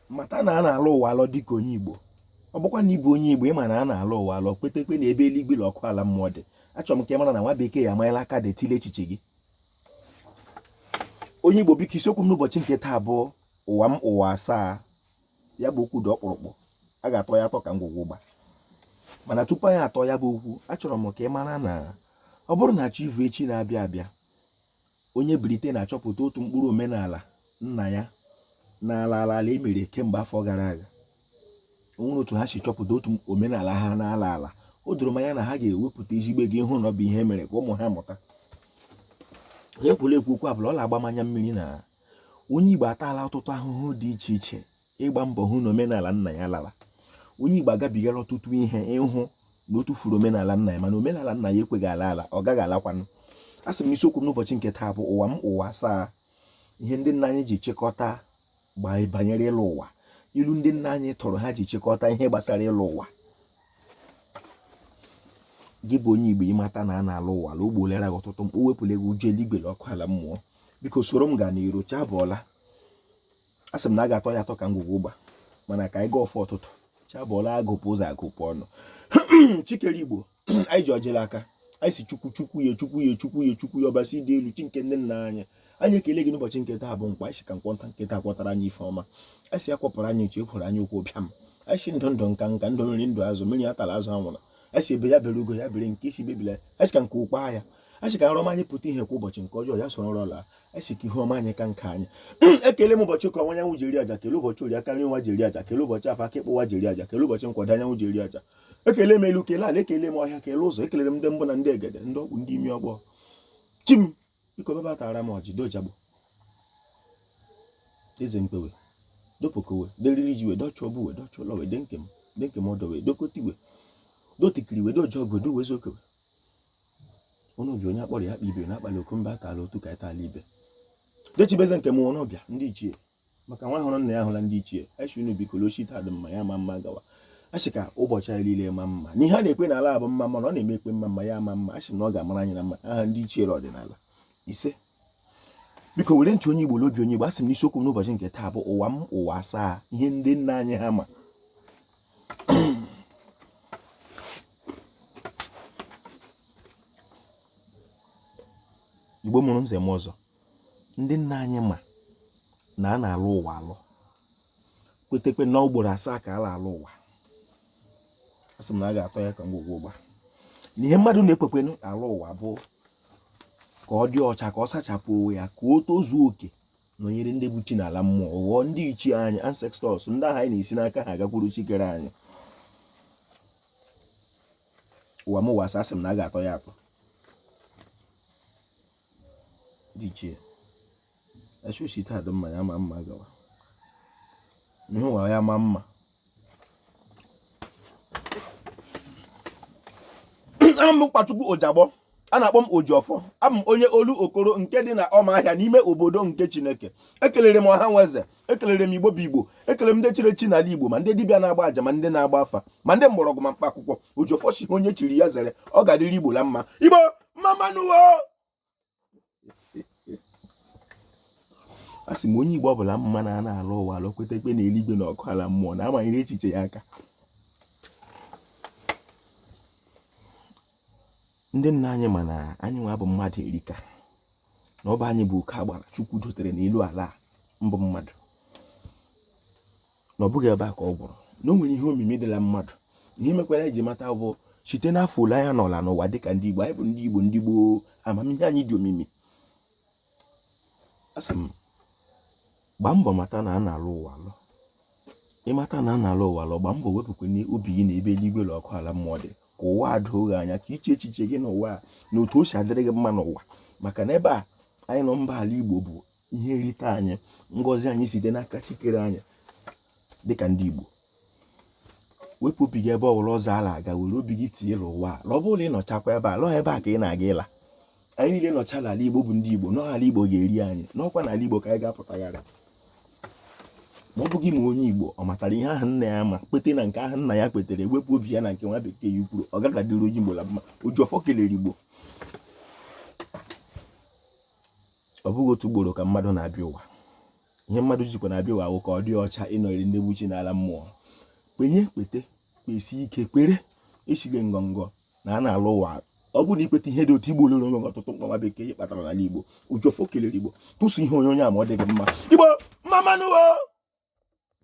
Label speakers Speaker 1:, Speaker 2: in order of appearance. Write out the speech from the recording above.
Speaker 1: mata na a na-alọ ụwa alọ dịka onye Igbo ọ bụkwa na ị bụ onye Igbo ị ma na a na-alọ ụwa alọ kwetekwe na ebe eluigwe na ọkụ ala mmụọ dị achọrọ m ka ị mara na nwa bekee ya amanyela aka detile echiche gị onye Igbo biko isiokwu m n'ụbọchị nke taa bụ ụwa m ụwa asaa ya bụ okwu dị ọkpụrụkpụ a ga-atọ ya atọ ka ngwugwu ụgba mana tupu anyị atọ ya bụ okwu achọrọ m ka ị mara na ọ bụrụ na chi ivu echi na-abịa abịa onye Britain achọpụta otu mkpụrụ omenala nna ya n'ala ala ala e mere kemgbe afọ gara aga o nwere otu ha si chọpụta otu omenala ha n'ala ala o doro m anya na ha ga-ewepụta ezigbo ego ịhụ na ọ bụ ihe e mere ka ụmụ ha mụta onye kwuru ekwu okwu a bụ na ọ na-agba m anya mmiri na onye Igbo ataala ọtụtụ ahụhụ dị iche iche ịgba mbọ hụ na omenala nna ya lara onye Igbo agabigala ọtụtụ ihe ịhụ na o tụfuru omenala nna ya mana omenala nna ya ekweghị ala ala ọ gaghị alakwanụ a sị m na isiokwu m n'ụbọchị nke taa bụ ụwa m ụwa asaa ihe ndị nna anyị ji chịkọta banyere ịlọ ụwa ilu ndị nna anyị tụrụ ha ji chịkọta ihe gbasara ịlọ ụwa gị bụ onye Igbo ị mata na a na-alọ ụwa alọ o gbolera gị ọtụtụ mkpa o wepụla gị ụjọ eluigwe na ọkụ ala mmụọ biko soro m gaa n'iru chi abọọla a sị m na a ga-atọ ya atọ ka ngwugwu ụgba mana ka anyị gọọ ọfọ ụtụtụ chi abọọla agụpụ ụzọ agụpụ ọnụ chi kere Igbo anyị ji ọjị la aka anyị sị chukwu chukwu ya chukwu ya chukwu ya chukwu ya ọbasi dị elu chi nke nne nna anyị anyị ekele gị n'ụbọchị nke taa bụ nkwọ anyị sị ka nkwọ nta nke taa kwọtara anyị ife ọma anyị sị ya kwọpụrụ anyị uchu ekworo anyaukwu bịa m anyị sị ndụ ndụ nka nka ndụ mmiri ndụ azụ mmiri atala azụ anwụla anyị sị egbe ya bere ugo ya bere nke sị ibe ebela anyị sị ka nku kwaa ya a sị ka nrọ ọma anyị pụta ihe kwa ụbọchị nke ọjọọ ya soro nrọ laa a sị ka ihu ọma anyị ka nke anyị ekele m ụbọchị eke ọwụwa anyanwụ ji eri aja kele ụbọchị orie aka nri ụwa ji eri aja kele ụbọchị afọ aka ịkpa ụwa ji eri aja kele ụbọchị nkwọ ọdịda anyanwụ ji eri aja ekele m elu kele ala ekele m ọhịa kele ụzọ ekelere m ndị mbụ na ndị egede ndị ọkpụ ndị imi ọgbọ chi m biko bịa bịa tara m ọjị dojagbo eze mkpewe dopokowe deriri ji we dọchụọ bụ we dọchụọ lọ we denke m denke m ọdọ we dokotiwe dotikiri we doji ọgụ dowe zokewe unu bịa onye a kpọrọ ya akpọ ibe na-akpali oku mba atala otu ka etala ibe dechibeze nke m unu bịa ndị ichie maka nwa hụrụ nna ya hụla ndị ichie a sị unu biko lochi taa dị mma ya ma mma gawa a sị ka ụbọchị anyị niile ma mma n'ihe a na-ekwe n'ala bụ mma mma na ọ na-eme ekwe mma mma ya ma mma a sị na ọ ga-amara anyị na mma aha ndị ichie ọdịnala ise biko were ntị onye Igbo n'obi onye Igbo asị m na isiokwu m n'ụbọchị nke taa bụ ụwa m ụwa asaa ihe ndị nna anyị ha ma Igbo mụrụ nze mụọ ọzọ ndị nna anyị ma na a na-alọ ụwa alọ kwetekwe na ugboro asaa ka a na-alọ ụwa asị m na a ga-atọ ya ka ngwugwu ụgba na ihe mmadụ na-ekwekwenụ alọ ụwa bụ ka ọ dị ọcha ka ọ sachapụ onwe ya ka o tozuo oke nọnyere ndị bụ chi n'ala mmụọ ghọọ ndị ichie anyị ancestors ndị ahụ anyị na-esi n'aka ha agakwuru chi kere anyị ụwa m ụwa asaa sị m na a ga-atọ ya atọ dị ichie esosi taa dị mma ya ma mma gawa ihe ụwa ya ma mma aha m bụ Nkwachukwu Ojagbọ a na-akpọ m Ojiọfọ abụ m onye Olokoro nke dị na ọma ahịa n'ime obodo nke Chineke ekelere m ọha nwe eze ekelere m igbo bụ igbo ekelere m ndị chiri echi n'ala igbo ma ndị dibịa na-agba aja ma ndị na-agba afa ma ndị mgbọrọgwụ ma mkpa akwụkwọ ojiọfọ sị onye chiri ya zere ọ ga-adịrị igbo la mma igbo mma mma nụ wo a sị m onye igbo ọbụla ma na a na-alọ ụwa alọ kwetekwe na eluigwe na ọkụ ala mmụọ na amanyere echiche ya aka ndị nna anyị ma na anyị nwa bụ mmadụ erika na ọ bụ anyị bụ oke agbara chukwu dotere n'elu ala mbụ mmadụ na ọ bụghị ebe a ka ọ gwụrụ na o nwere ihe omimi dị la mmadụ ihe mekwara e ji mata bụ site n'afọ ole anyị nọọla n'ụwa dịka ndị igbo anyị bụ ndị igbo ndị gboo amamihe anyị dị omimi asị m gbaa mbọ mata na a na-alọ ụwa alọ ị mata na a na-alọ ụwa alọ gbaa mbọ wepụkwana obi gị na ebe eluigwe na ọkụ ala mmụọ dị ka ụwa a doo gị anya ka i chee echiche gị n'ụwa a na otu o si adịrị gị mma n'ụwa maka na ebe a anyị nọ mba ala igbo bụ ihe nrite anyị ngọzi anyị site n'aka chi kere anyị dịka ndị igbo wepụ obi gị ebe ọ bụla ọzọ a la-aga were obi gị tinye n'ụwa a na ọ bụrụ na ị nọchakwa ebe a la ọọ ebe a ka ị na-aga ịla anyị niile nọcha n'ala igbo bụ ndị igbo na ọọ ala igbo ga-eri anyị na ọ kwa n'ala igbo ka anyị ga-apụtagharị ma ọ bụghị ma onye igbo ọ matara ihe ahụ nna ya ma kwete na nke ahụ nna ya kwetere wepụ obi ya na nke nwa bekee ya kwuru ọ gaghị adịrị onye igbo la mma ojiọfọ kelere igbo ọ bụghị otu ugboro ka mmadụ na-abịa ụwa ihe mmadụ jikwa na-abịa ụwa wụ ka ọ dị ọcha ịnọnyere ndị bụ chi n'ala mmụọ kwenye kwete kwesi ike kwere echile ngọngọ na a na-alọ ụwa ọ bụrụ na i kweta ihe dị otu igbo lụrụ onwe ọtụtụ mkpa nwa bekee ihe kpatara n'ala igbo ojiọfọ kelere igbo tụsụ ihe onye onye a ma ọ dịghị mma igbo mma mma nụ wo